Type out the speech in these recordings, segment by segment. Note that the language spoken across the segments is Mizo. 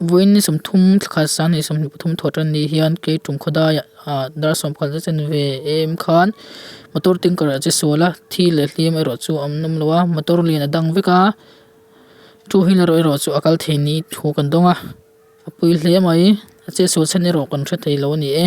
Vawiin ni sawm thum thla khat sang ni sawmhnih pathum thawh tan nih hian kei tum khaw dai ah dar sawm pakhat zet in ve em khan motor tanker ah che sual a thi leh hlim erawh chu an awm lo a motor lian a dang vek a two wheeler erawh chu a kal thei ni thu kan dawng a a pui hle mai a che sual chhan erawh kan hre thei lo a ni e.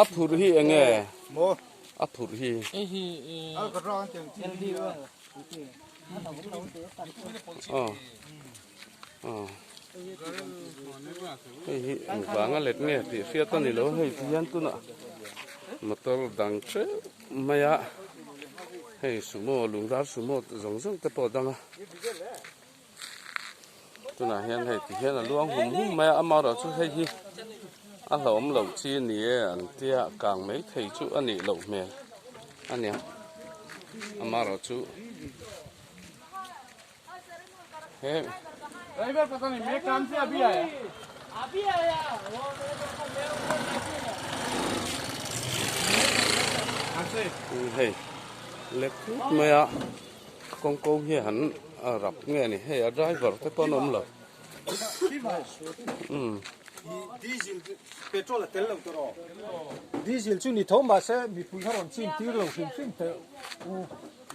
a phur hi eng nge a phur hi aw aw hei hi an vang a let nge tih hriat a ni lo hei ti hian tun ah motor dang ṭeuh mai a hei sumo lungdar sumo zawng zawng te pawh a dang a. tunah hian hei ti hian a luang hum hum mai a amah erawh chu hei hi a hlawm loh chi a ni e an tia kang mai thei chu a nih loh hmel a nia amah erawh chu he hei lek put mai a. Kawng kawng hi han rak nge a ni hei a driver te pawh an awm lo umm. Diesel chu petrol a tel lo tur aw diesel chu ni tho mah se mipui kha rawn chin tir lo hrim hrim teh u.